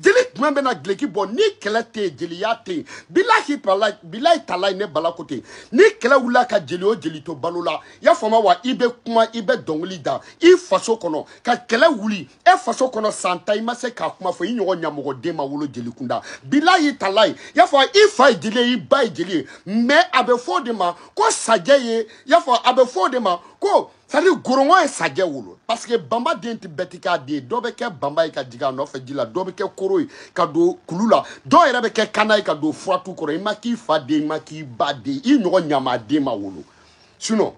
jeli jumɛn bɛna gileki bɔ ni kɛlɛ tɛ yen jeliya tɛ yen bilahi talayi ne bala ko ten ni kɛlɛ wulila ka jeli o jeli to balo la i y'a faamu wa i bɛ kuma i bɛ dɔnkili da i faso kɔnɔ ka kɛlɛ wuli e faso kɔnɔ san tan i ma se k'a kuma fɔ i ɲɔgɔn ɲamɔgɔden ma wolo jelikunda bilahi talayi i y'a fɔ i fa ye jeli ye i ba ye jeli ye mais a bɛ fɔ o de ma ko sajɛ ye i y'a fɔ a bɛ fɔ o de ma ko sadi ngɔrɔngɔ ye sajɛ wolo parce que banba den tɛ bɛɛ ti k'a den ye dɔ bɛ kɛ banba ye ka jigin a nɔfɛ ji la dɔ bɛ kɛ koro ye ka don kulu la dɔw yɛrɛ bɛ kɛ kana ye ka don furatu kɔrɔ i ma k'i fa den i ma k'i ba den i ɲɔgɔn ɲamaden ma wolo sinon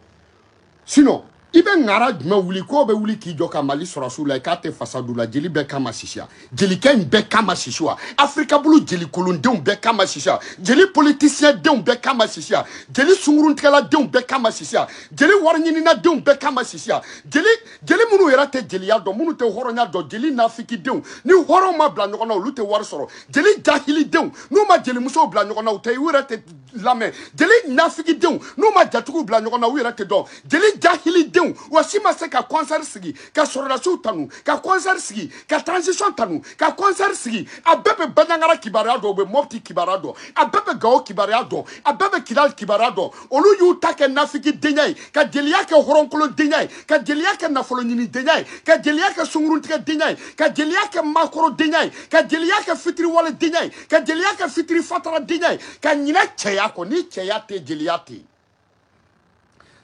sinon i bɛ ŋara jumɛn wuli k'o bɛ wuli k'i jɔ ka mali sɔrɔdasiw la i k'a tɛ fasadu la jeli bɛɛ kama sisiya jelikɛ in bɛɛ kama sisi wa afirika bulu jelikolondenw bɛɛ kama sisi wa jeli politisiyɛndenw bɛɛ kama sisi wa jeli sunguruntigɛladenw bɛɛ kama sisi wa jeli wariɲininadenw bɛɛ kama sisi wa jeli jeli minnu yɛrɛ tɛ jeliya dɔn minnu tɛ hɔrɔnya dɔn jeli nafikidenw ni hɔrɔnw ma bila ɲɔgɔn na olu tɛ wari sɔrɔ jeli jahilidenw n'u ma jelimusow bila ɲɔgɔn na u tɛ u yɛrɛ tɛ lamɛn jeli nafikidenw n'u ma jatigiw bila ɲɔgɔn na u yɛrɛ tɛ dɔn jeli jahilidenw aw si ma se ka kɔnsɛri sigi ka sɔrɔdasiw tanu ka kɔnsɛri sigi ka transition tanu ka kɔnsɛri sigi a bɛɛ bɛ banjagara kibaruya dɔn u bɛ mɔpti kibaruya dɔn a bɛɛ bɛ gawo kibaruya dɔn a bɛɛ bɛ kidali kibaruya dɔn olu y'u ta kɛ nafiki denya ye ka jeliya kɛ hɔrɔnkolon denya ye ka jeliya kɛ nafolo ɲini denya ye ka jeliya kɛ sunguruntigɛ denya ye ka jeliya kɛ makoro denya ye ka jeliya kɛ fitiriwale denya ye ka jeliya kɛ fitiri fatara denya ye ka ɲinɛ cɛya kɔ ni cɛya tɛ jeliya tɛ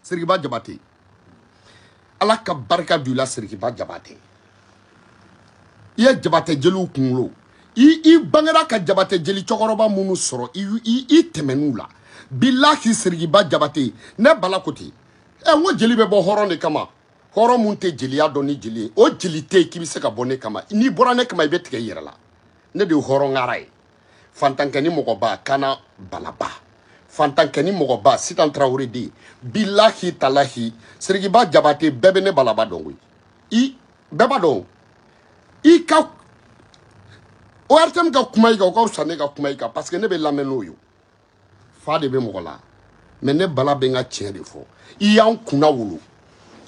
sirikiba jabate ala ka barika don i la sirikiba jabate i ye jabate jeliw kunkolo i i bangera ka jabate jeli cɛkɔrɔba minnu sɔrɔ i i i tɛmɛn'u la bilahi sirikiba jabate ne bala ko ten ɛ n ko jeli bɛ bɔ hɔrɔn de kama hɔrɔn mun tɛ jeliya dɔn ni jeli ye o jeli tɛ yen k'i bɛ se ka bɔ ne kama n'i bɔra ne kama i bɛ tigɛ i yɛrɛ la ne de ye hɔrɔn ŋara ye fantankɛ ni mɔgɔba kana balaba fantankɛ ni mɔgɔba sitan tarawele den bilahi talahi sirikiba jabate bɛɛ bɛ ne balaba dɔn koyi i bɛɛ b'a dɔn i ka ortm ka kuma i kan o ka fisa ne ka kuma i kan parce que ne bɛ lamɛn n'o ye fa de bɛ mɔgɔ la mais ne bala bɛ n ka tiɲɛ de fɔ i y'an kunna wolo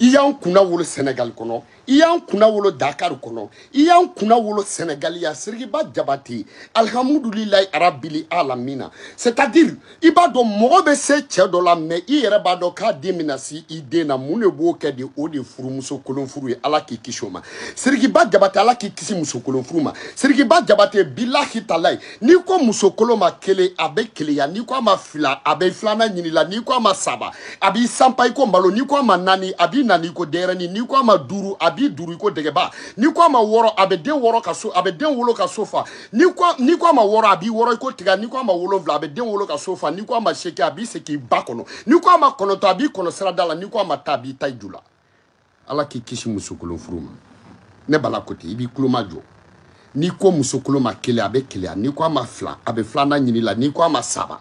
i y'an kunna wolo sɛnɛgali kɔnɔ i y'an kunna wolo dakari kɔnɔ i y'an kunna wolo sɛnɛgali yan sirikiba jabate alihamudulilayi arabili alamina c'est à dire i b'a dɔn mɔgɔ bɛ se cɛ dɔ la mais i yɛrɛ b'a dɔn k'a den bɛna se i den na mun de b'o kɛ de o de ye furumuso kolon furu ye ala k'i kisi o ma sirikiba jabate ala k'i kisi musokolon furu ma sirikiba jabate bilahi talayi n'i ko musokolon ma kelen a bɛ keleya n'i ko a ma fila a bɛ filanan ɲini la n'i ko a ma saba a b'i sanpa i ko malo n'i ko a ma naani a b'i naani i ko denyɛrɛni n'i ko a ma duuru a b'i duuru i ko dɛgɛba n'i ko a ma wɔɔrɔ a bɛ den wɔɔrɔ ka so a bɛ den wolo ka so fa n'i ko n'i ko a ma wɔɔrɔ a b'i wɔɔrɔ i ko tiga n'i ko a ma wolonwula a bɛ den wolo ka so fa n'i ko a ma seegin a b'i segin i ba kɔnɔ n'i ko a ma kɔnɔntɔn a b'i kɔnɔ sirada la n'i ko a ma tan a b'i tan i ju la ala k'i kisi musokolon furu ma ne bala ko ten i b'i tulo majɔ n'i ko musokolon ma kelen a bɛ keleya n'i ko a ma fila a bɛ filanan ɲini la n'i ko a ma saba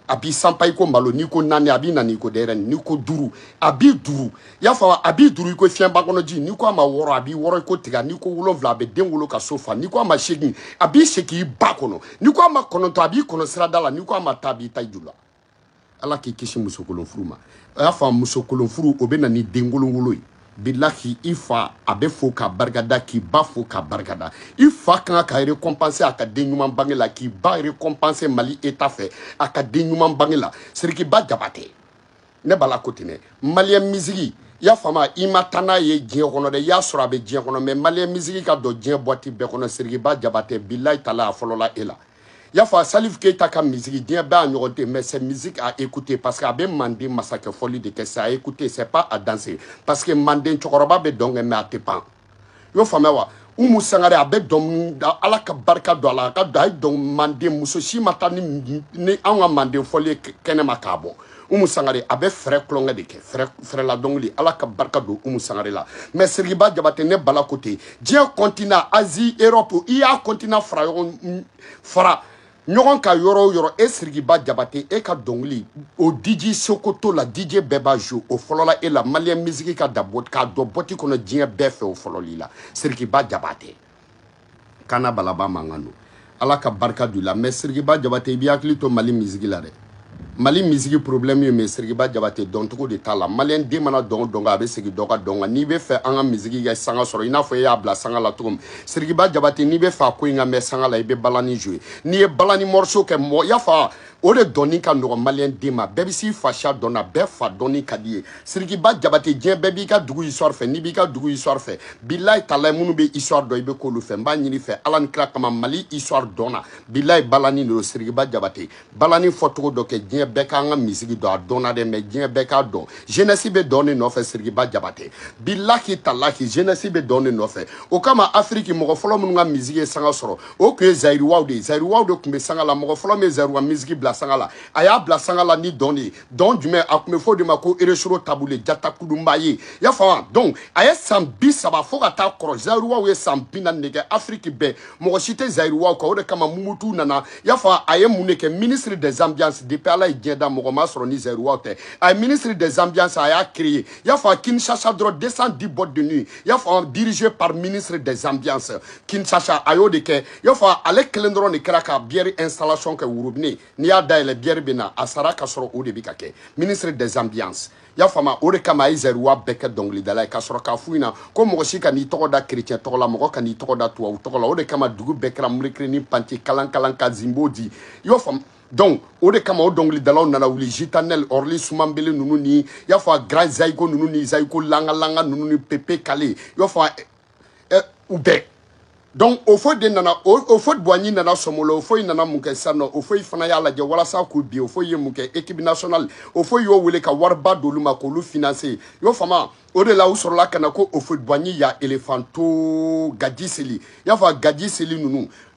a b'i sanpa i ko malo n'i ko naani a b'i naani i ko denyɛrɛni n'i ko duuru a b'i duuru i y'a faamu a b'i duuru i ko fiɲɛba kɔnɔ ji n'i ko a ma wɔɔrɔ a b'i wɔɔrɔ i ko tiga n'i ko wolonwula a bɛ den wolo ka so fa n'i ko a ma seegin a b'i segin i ba kɔnɔ n'i ko a ma kɔnɔntɔn a b'i kɔnɔ sirada la n'i ko a ma tan a b'i tan i ju la ala k'i kisi musokolonfuru ma y'a faamu musokolonfuru o bɛ na ni denkolonwolo ye bilahi i fa a bɛ fo k'a barikada k'i ba fo k'a barikada i fa ka kan ka récompenser a ka den ɲuman bange la k'i ba récompenser mali état fɛ a ka den ɲuman bange la sirikiba jabate ne bala ko ten dɛ maliyɛn misigi y'a faamu i ma taa n'a ye diɲɛ kɔnɔ dɛ y'a sɔrɔ a bɛ diɲɛ kɔnɔ mais maliyɛn misigi ka don diɲɛ boîte bɛɛ kɔnɔ sirikiba jabate bilayi tala a fɔlɔla e la y'a fɔ salif keyita ka misiki diɲɛ bɛɛ a ɲɔgɔn tɛ mais c'est musique à écouter parce que a bɛ manden masakɛ fɔli de kɛ c'est à écouter c'est pas à danser parce que manden cɛkɔrɔba bɛ dɔn kɛ mais a tɛ pan i y'o faamuya wa umu sangare a bɛ dɔn ala ka barika don a la a ka don a y'a dɔn manden muso si ma taa ni an ka manden fɔli ye kɛnɛ ma k'a bɔ umu sangare a bɛ fɛrɛ tulonkɛ de kɛ fɛrɛ fɛrɛla dɔnkili ala ka barika don umu sangare la mais sirikiba jabate ne bala ko ten diɲɛ continent asie europe i y'a continent fara ɲɔgɔn fara ɲɔgɔn kan yɔrɔ o yɔrɔ e sirikiba jabate e ka dɔnkili o diji sokoto la dije bɛɛ b'a jouer o fɔlɔla e la maliyɛn misiki ka da k'a don boîte kɔnɔ diɲɛ bɛɛ fɛ o fɔlɔla i la sirikiba jabate kana balaba mankan don ala ka barika don i la mais sirikiba jabate i b'i hakili to mali misigi la dɛ mali misigi problème ye mɛ sirikiba jabate dɔncogo de t'a la maliyɛn den mana dɔn o dɔn kɛ a bɛ segin dɔ ka dɔn kan n'i b'a fɛ an ka misigi ka sanga sɔrɔ i n'a fɔ e y'a bila sanga la cogo min sirikiba jabate n'i b'a fɛ a ko in ka mɛɛn sanga la i bɛ balani jouer n'i ye balani morceau kɛ mɔgɔ y'a fa o de dɔnni ka nɔgɔn maliyɛn den ma bɛɛ bɛ s'i fasiya dɔn na bɛɛ fa dɔnni ka d'i ye sirikiba jabate diɲɛ bɛɛ b'i ka dugu histoire fɛ n'i b'i ka dugu histoire fɛ bilayi talayi minnu bɛ histoire dɔn i bɛ k'olu fɛ n b'a ɲini i fɛ ala ni kira kama mali histoire dɔn na bilayi balani de don sirikiba jabate balani fɔcogo dɔ kɛ diɲɛ bɛɛ k'an ka misigi dɔn a dɔnna dɛ mais diɲɛ bɛɛ k'a dɔn jeunesse bɛ dɔn de nɔfɛ sirikiba jabate bilahi talahi jeunesse bɛ dɔn de nɔfɛ o kama afiriki mɔgɔ fɔlɔ minnu ka misigi ye sanga sɔrɔ o tun ye zayiriwaw de ye zayiriwaw de tun bɛ sanga la mɔgɔ fɔlɔ min ye zayiriwa misiki bila sanga la a y'a bila sanga la ni dɔn de ye dɔn jumɛn a tun bɛ fɔ o de ma ko rochereau tabu ley jatakudunba ye y'a faamu donc a ye san bi saba fo ka taa kɔrɔ zayiriwaw ye san bi naani de kɛ afiriki bɛɛ mɔgɔ si tɛ zayiriwaw kan o de kama mobutu nana y'a faamu a ye mun de kɛ ministre des ambiances depuis ala ye diɲɛ da mɔgɔ ma sɔrɔ ni zayiriwaw tɛ a ye ministre des ambiances a y'a créé y'a faamu kinshasa dɔrɔn 210 boîtes de nuit y'a faamu dirigé par ministre des ambiances Kinshasa a y'o de kɛ y'a fɔ ale kelen dɔrɔn de kɛra ka bière installation kɛ robinet n'i y'a dayɛlɛ bière bɛ na a sara ka sɔrɔ o de bɛ ka kɛ ministre des ambiances y'a faamu o de kama a ye zayiriwa bɛɛ kɛ dɔnkilidala ye k'a sɔrɔ k'a f'u ɲɛna ko mɔgɔ si kan'i tɔgɔ da kerecɛn tɔgɔ la mɔgɔ kan'i tɔgɔ da tubabu tɔgɔ la o de kama dugu bɛɛ kɛra murikirinin panti kalan kalan ka zimbo di y'o faamu donc o de kama o dɔnkilidalaw nana wuli jitanɛl aurlus mabélé ninnu ni y'a fɔ a grand zayiko ninnu ni zayiko langa langa ninnu ni pépé kallé y'a fɔ eh, u bɛɛ donc houphouët de nana houphouët boigny nana sɔmolo houphouët nana mun kɛ sisan nɔ houphouët fana y'a lajɛ walasa k'u bin houphouët ye mun kɛ équipe nationale houphouët y'o wele ka wariba d'olu ma k'olu financer y'o faamuya o de la u sɔrɔla ka na ko houphouët boigny ya elefanto gaji seli y'a fɔ gaji seli ninnu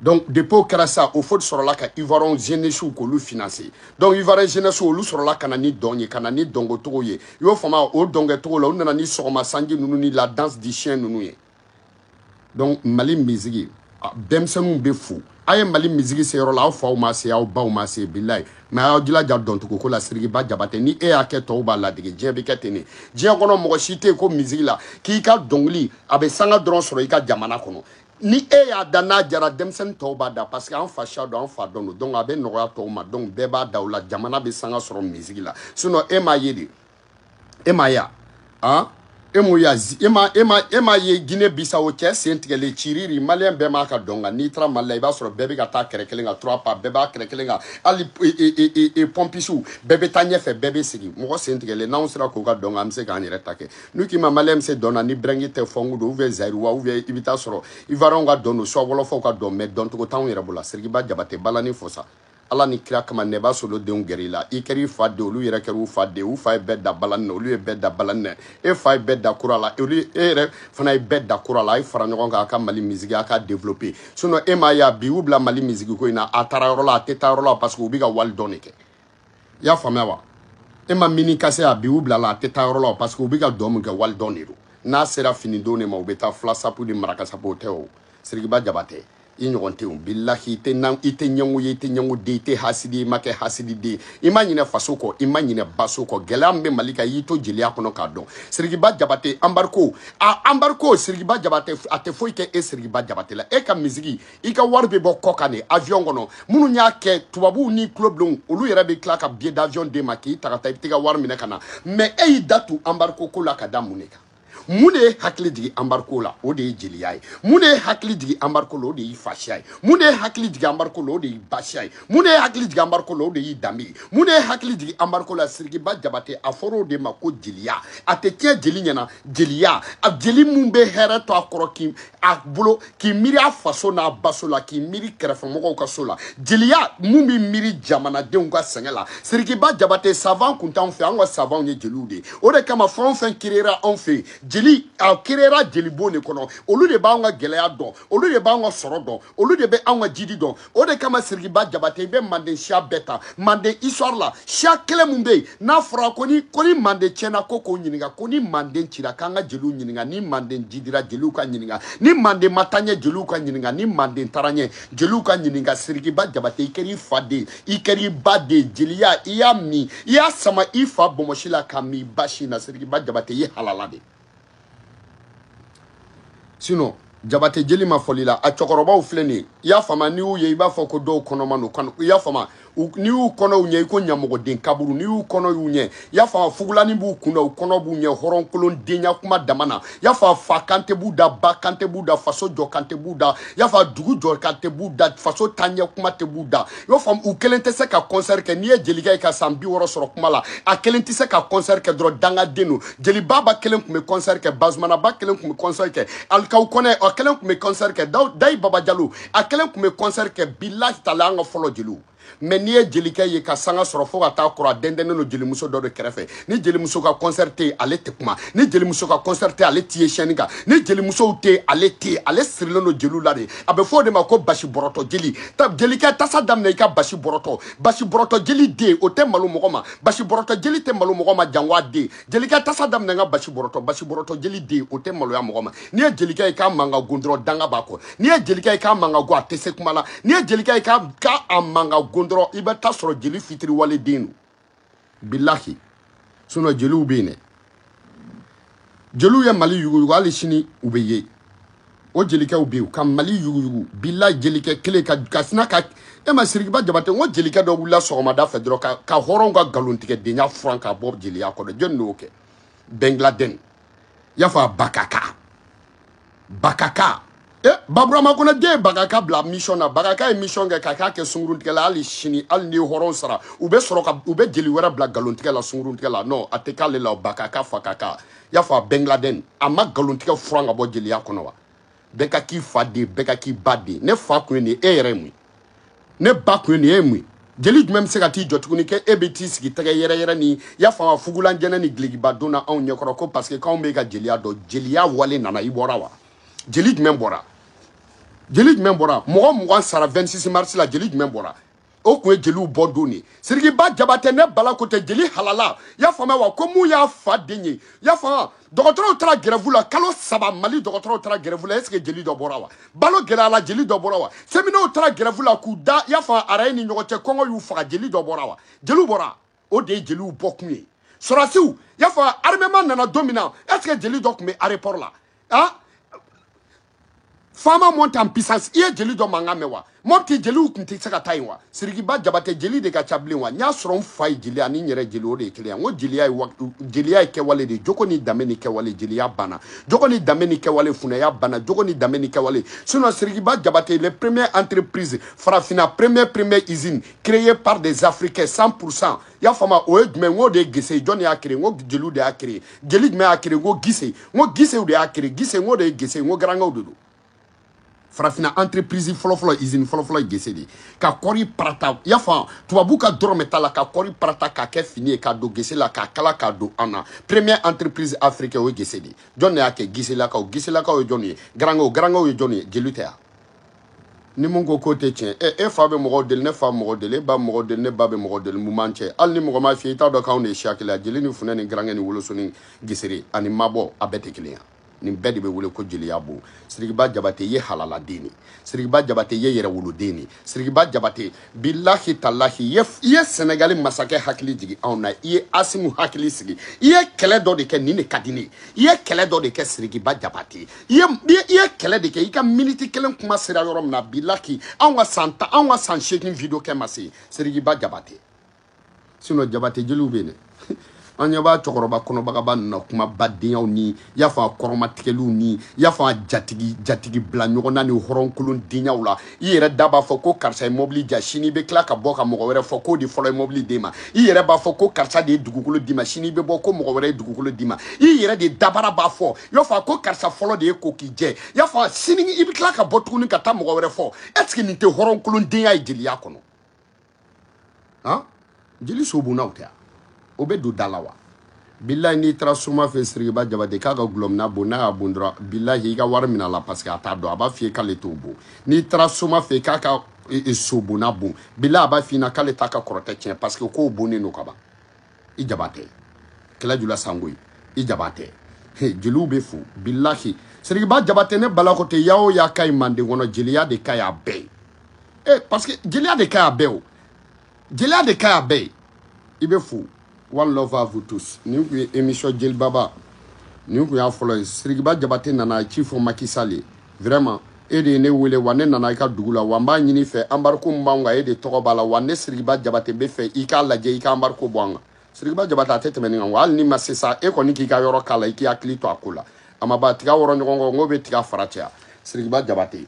donc depuis o kɛra sa houphouët de sɔrɔla ka ivoirien jeunesse k'olu financer donc ivoirien jeunesse olu sɔrɔla ka na ni dɔn ye ka na ni dɔnkɛcogo ye i y'o faamuya o dɔnkɛcogo la u nana ni sɔgɔma sanji ninnu ni la danse du chien ninnu ye donc mali misigi denmisɛnninw bɛ fo a ye mali misigi se yɔrɔ la aw faw ma se aw baw ma se bilahi mais aw jilaja dɔncogo ko la sirikiba jabate ni e y'a kɛ tɔw b'a ladege diɲɛ bɛ kɛ ten ne diɲɛ kɔnɔ mɔgɔ si tɛ yen ko misigi la k'i ka dɔnkili a bɛ sanga dɔrɔn sɔrɔ i ka jamana kɔnɔ ni e y'a da n'a diyara denmisɛnnin tɔw b'a da parce que an fasiya don an fa dɔn don donc a bɛ nɔgɔya tɔw ma donc bɛɛ b'a da o la jamana bɛ sanga sɔrɔ misigi la sinon e m'a ye de e m'a ye a han e m'o y'a e ma e ma e m'a ye guinée bissau cɛ sen tigɛlen ciriri maliyɛn bɛɛ m'a ka dɔn kalan n'i taara mali la i b'a sɔrɔ bɛɛ bɛ ka taa kɛrɛ kelen kan trois pas bɛɛ b'a kɛrɛ kelen kan hali pɔmpisiw bɛɛ bɛ taa ɲɛfɛ bɛɛ bɛ segin mɔgɔ sen tigɛlen n'anw sera k'o ka dɔn kalan an bɛ se k'an yɛrɛ ta kɛ n'u k'i ma maliyɛn bɛ se dɔn na ni break tɛ funk don ou bien zaïrois ou bien i bɛ t'a sɔrɔ ivoirienw ka dɔn don soit wɔlɔfɔw ka dɔn mais dɔncogo t'anw yɛrɛ bolo sirikiba jabate balani fɔ sa ala ni kira kama nɛba solo denw gɛrɛ i la i kɛra i fa den olu yɛrɛ kɛra u fa den u fa ye bɛɛ dan balani na olu ye bɛɛ dan balani na e fa ye bɛɛ dan kora la olu e yɛrɛ fana ye bɛɛ dan kora la a ye fara ɲɔgɔn kan a ka mali misigi a ka développer sinon e m'a ye a bi u bila mali misigi ko in na a taara yɔrɔ la a tɛ taa yɔrɔ la parce que u bɛ ka wali dɔn de kɛ i y'a faamuya wa e ma mini kase a bi u bila la a tɛ taa yɔrɔ la parce que u bɛ ka dɔn min kɛ wali dɔn de don n'a sera fini don de ma u bɛ taa fila sapu ni maraka sapu o tɛ o sirikiba jabate i ɲɔgɔn tɛ o bilahi i tɛ nan i tɛ ɲɛngo ye i tɛ ɲɛngo den i tɛ hasidi i ma kɛ hasidi den i ma ɲinɛ faso kɔ i ma ɲinɛ baso kɔ gɛlɛya min bɛ mali kan y'i to jeliya kɔnɔ k'a dɔn sirikiba jabate embargo a embargo sirikiba jabate a tɛ foyi kɛ e sirikiba jabate la e ka misigi i ka wari bɛ bɔ kɔkan de avion kɔnɔ minnu y'a kɛ tubabuw ni tulobilenw olu yɛrɛ bɛ tila ka billet d'avion d'e ma k'i ta ka taa i bɛ t'i ka wari minɛ ka na mais e y'i da tu embargo ko la ka da mun de kan mun de ye hakili jigin embargo la o de ye jeliya ye mun de ye hakili jigin embargo la o de y'i fasiya ye mun de ye hakili jigin embargo la o de y'i basiya ye mun de ye hakili jigin embargo la o de y'i danbe ye mun de ye hakili jigin embargo la sirikiba jabate a fɔra o de ma ko jeliya a tɛ tiɲɛ jeli ɲɛna jeliya a jeli min bɛ hɛrɛ to a kɔrɔ k'i a bolo k'i miiri a faso n'a baso la k'i miiri kɛrɛfɛmɔgɔw ka so la jeliya min bɛ miiri jamanadenw ka sɛgɛn la sirikiba jabate savant kun t'anw fɛ anw ka savantw ye jeliw de ye o de kama fɛn o fɛn kirera anw fɛ yen jeli a kirera jelibon de kɔnɔ olu de b'anw ka gɛlɛya dɔn olu de b'anw ka sɔrɔ dɔn olu de bɛ anw ka jidi dɔn o de kama sirikiba jabate i bɛ manden siya bɛɛ ta manden histoire la siya kelen min bɛ yen n'a fɔra ko ni ko ni manden tiɲɛna ko k'o ɲininka ko ni manden cira k'an ka jeliw ɲininka ni manden jidira jeliw ka ɲininka ni manden ma taa ɲɛ jeliw ka ɲininka ni manden taara ɲɛ jeliw ka ɲininka sirikiba jabate i kɛra i fa den i kɛra i ba den jeliya i y'a min i y'a sama i fa bonbonsi la k'a min i ba sin na sirikiba jabate i ye halala de sinon jabate jeli ma fɔli la a cɛkɔrɔbaw filɛ nin ye i y'a faamuya n'i y'u ye i b'a fɔ ko dɔw kɔnɔma don i y'a faamuya n'i y'u kɔnɔ y'u ɲɛ i ko ɲamɔgɔden kaburu n'i y'u kɔnɔ y'u ɲɛ i y'a faamuya fugulani b'u kun na u kɔnɔ b'u ɲɛ hɔrɔnkolon denya kuma dama na i y'a faamuya fa kan tɛ b'u da ba kan tɛ b'u da faso jɔ kan tɛ b'u da i y'a faamuya dugu jɔ kan tɛ b'u da faso taaɲɛ kuma tɛ b'u da i y'o faamu u kelen tɛ se ka concert kɛ n'i ye jelikɛ ye ka san bi wɔɔrɔ sɔrɔ kuma la a kelen tɛ se ka concert kɛ dɔrɔn dangaden don jeli baba kelen tun bɛ concert kɛ bazumanaba kelen tun bɛ concert kɛ alikaw kɔnɛ a kelen tun bɛ concert kɛ dayi baba jalo a kelen tun bɛ concert kɛ bilahi tala an ka fɔlɔ jeliw mais n'i ye jelikɛ ye ka sanga sɔrɔ fo ka taa kɔrɔ a dɛndɛnnen don jelimuso dɔ de kɛrɛfɛ ni jelimuso ka concert tɛ yen ale tɛ kuma ni jelimuso ka concert tɛ yen ale t'i ye scène kan ni jelimusow tɛ yen ale tɛ yen ale sirilen don jeliw la de a bɛ fɔ o de ma ko basi bɔrɔtɔ jeli ta jelikɛ tasa daminɛ i ka basi bɔrɔtɔ basi bɔrɔtɔ jeli den o tɛ malo mɔgɔ ma basi bɔrɔtɔ jeli tɛ malo mɔgɔ ma janwa den jelikɛ tasa daminɛ n ka basi bɔrɔtɔ basi bɔrɔtɔ jeli den o tɛ maloya mɔgɔ ma n'i ye jelikɛ ye k'a man ka gon dɔrɔn danga b'a kɔ n'i ye jelikɛ ye k'a man ka go a tɛ se kuma la n'i ye jelikɛ ye k'a a man ka gon dɔrɔn i bɛ taa sɔrɔ jeli fitiriwale den don bilahi sinɔn jeliw bɛ yen dɛ jeliw ye mali yuguyugu hali sini u bɛ yen o jelikɛw bɛ yen ka mali yuguyugu bilahi jelikɛ kelen ka ka sina ka e ma sirikiba jabate n ko jelikɛ dɔ wulila sɔgɔmada fɛ dɔrɔn ka ka hɔrɔnw ka nkalontigɛdenya furan ka bɔ jeliya kɔnɔ jɔni de y'o kɛ ben laden y'a fɔ a bakaka bakaka e eh, baburama konate ye bakaka bila mission na bakaka ye mission kɛ ka k'a kɛ sunguruntigɛ la hali sini hali ni hɔrɔn sara u bɛ sɔrɔ ka u bɛ jeli wɛrɛ bila nkalontigɛ la sunguruntigɛ la non a tɛ k'ale la bakaka fakaka i y'a fɔ a ben laden a ma nkalontigɛ furan ka bɔ jeliya kɔnɔ wa bɛɛ ka k'i fa den bɛɛ ka k'i ba den ne fa tun ye nin e yɛrɛ ye mun ye ne ba tun ye nin e ye mun ye jeli jumɛn bɛ se ka t'i jɔ tuguni kɛ e bɛ t'i sigi tɛgɛ yɛrɛ yɛrɛ ni y'a faamu fugulan jɛnin ni dulokiba don na anw ɲɛkɔrɔ ko parce que k'anw bɛ ka jeliya dɔn jeliya wale nana i bɔra wa jeli jumɛn bɔra jeli jumɛn bɔra mɔgɔ mugan sara 26 mars la jeli jumɛn bɔra o tun ye jeliw bɔ don de sirikiba jabate ne bala ko tɛ jeli halala y'a faamuya wa ko mun y'a fa den ye y'a faamuya dɔgɔtɔrɔw taara grève la kalo saba mali dɔgɔtɔrɔw taara grève la est-ce que jeli dɔ bɔra wa balo gɛlɛya la jeli dɔ bɔra wa seminow taara grève la k'u da y'a faamu araye ni ɲɔgɔn cɛ kɔngɔ y'u faga jeli dɔ bɔra wa jeliw bɔra o de ye jeliw bɔkun ye sɔrɔdasiw y'a faamu armement nana don min na est-ce que jeli dɔ tun bɛ aéroport la a Fama monte en puissance i ye jeli dɔ mankan mɛn wa mɔpti jeliw kun tɛ se ka taa yen wa sirikiba jabate jeli de ka ca bilen wa n y'a sɔrɔ n fa ye jeli ani n yɛrɛ jeli o de ye kelen ye n ko jeliya ye jeliya ye kɛwale de ye jogo ni danbe ni kɛwale jeliya banna jogo ni danbe ni kɛwale funɛya banna jogo ni danbe ni kɛwale sinon sirikiba jabate le premier entreprise farafina premier premier usine créée par des africains 100 pour cent i y'a faamu o ye jumɛn n k'o de ye gese jɔn de y'a créé n ko jeliw de y'a créé jeli jumɛn y'a créé n ko gise n ko gisew de y'a créé gise n k'o de ye gese n ko garankaw de don farafina entreprise fɔlɔfɔlɔ usine fɔlɔfɔlɔ ye gese de ye ka kɔri parata i y'a faamu tubabu ka dɔrɔmɛ t'a la ka kɔri parata k'a kɛ fini ye k'a don gese la k'a kala k'a don an na première entreprise africaine o ye gese de ye jɔn de y'a kɛ giselakaw giselakaw ye jɔn ye garankaw garankaw ye jɔn ye jeli tɛ yan ni mun ko k'o tɛ tiɲɛ ɛ e fa bɛ mɔgɔw deli ne fa bɛ mɔgɔ deli e ba bɛ mɔgɔ deli ne ba bɛ mɔgɔ deli mun b'an cɛ hali ni mɔgɔ m'a f'i ye i t'a dɔn k'anw de ye siya kelen ye jeli ni funɛ ni garankɛ ni woloso ni gesere ani mabɔ a bɛɛ tɛ kelen ye nin bɛɛ de bɛ wele ko jeliya bon sirikiba jabate ye halaladen de sirikiba jabate ye yɛrɛwoloden de sirikiba jabate bilahi talahi i ye i ye sɛnɛgali masakɛ hakili jigi anw na i ye asimu hakili sigi i ye kɛlɛ dɔ de kɛ nin de ka di ne ye i ye kɛlɛ dɔ de kɛ sirikiba jabate i ye i ye kɛlɛ de kɛ i ka miniti kelen kuma sera yɔrɔ min na bilahi anw ka san tan anw ka san seegin video kɛ ma se sirikiba jabate sinon jabate jeliw bɛ yen dɛ an ɲɛ b'a cɛkɔrɔba kɔnɔbagaba ninnu na kuma badenyaw ni y'a fɔ a kɔrɔmatigɛliw ni y'a fɔ a jatigi jatigi bila ɲɔgɔn na ni hɔrɔnkolon denyaw la i yɛrɛ da b'a fɔ ko karisa ye mɔbili ja sini i bɛ tila ka bɔ ka mɔgɔ wɛrɛ fɔ k'o de fɔlɔ ye mɔbili d'e ma i yɛrɛ b'a fɔ ko karisa de ye dugukolo d'i ma sini i bɛ bɔ ko mɔgɔ wɛrɛ ye dugukolo d'i ma i yɛrɛ de dabara b'a fɔ y'a fɔ a ko karisa fɔlɔ de ye ko k'i ye y'a fɔ sini i bɛ tila ka bɔ tuguni ka taa mɔgɔ wɛrɛ fɔ est-ce que nin tɛ hɔrɔnkolon denya ye jeliya kɔnɔ han jeli sobunnaw tɛ yan o bɛ don da la wa bilahi n'i taara soma fɛ sirikiba jabate k'a ka gulɔmina bon n'a y'a bon dɔrɔn bilahi i ka wari min'a la parce que a t'a dɔn a b'a f'i ye k'ale t'o bon n'i taara soma fɛ k'a ka e, e, sobonna bon bilahi a b'a f'i ɲɛna k'ale t'a ka kɔrɔtɛ tiɲɛ parce que k'o bonnen don ka ban i jabate kala jula sangoyi i jabate jeliw bɛ fo bilahi sirikiba jabate ne bala ko tɛ ya o ya ka ɲi manden kɔnɔ jeliya de ka ɲi a bɛɛ ye eh, parce que jeliya de ka ɲi a bɛɛ o jeliya de ka ɲi a bɛɛ ye i bɛ fo one love à vous tous nin kun ye émission jelibaba nin kun y'a fɔlɔ ye sirikiba jabate nana ci fɔ maki sal ye vraiment e de ye ne wele wa ne nana i ka dugu la wa n b'a ɲini i fɛ embargo min b'an kan e de tɔgɔ b'a la wa ne sirikiba jabate b'a fɛ i k'a lajɛ i ka embargo bɔ an kan sirikiba jabate a tɛ tɛmɛ nin kan wa hali n'i ma se sa e kɔni k'i ka yɔrɔ k'a la i k'i hakili to a ko la a ma ba tiga wɔrɔ ɲɔgɔn kɔ n ko bɛ tiga fara caya sirikiba jabate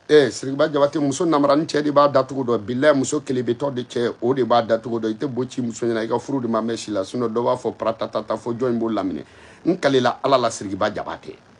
ee sirikiba jabate muso namara ni cɛ de b'a datugu dɔn bilayi muso kelebetɔ de cɛ o de b'a datugu dɔn i tɛ bo ci muso ɲɛna i ka furu de ma mɛn si la sinon dɔ b'a fɔ paratatata fo jɔn in b'o laminɛ n kalela ala la sirikiba jabate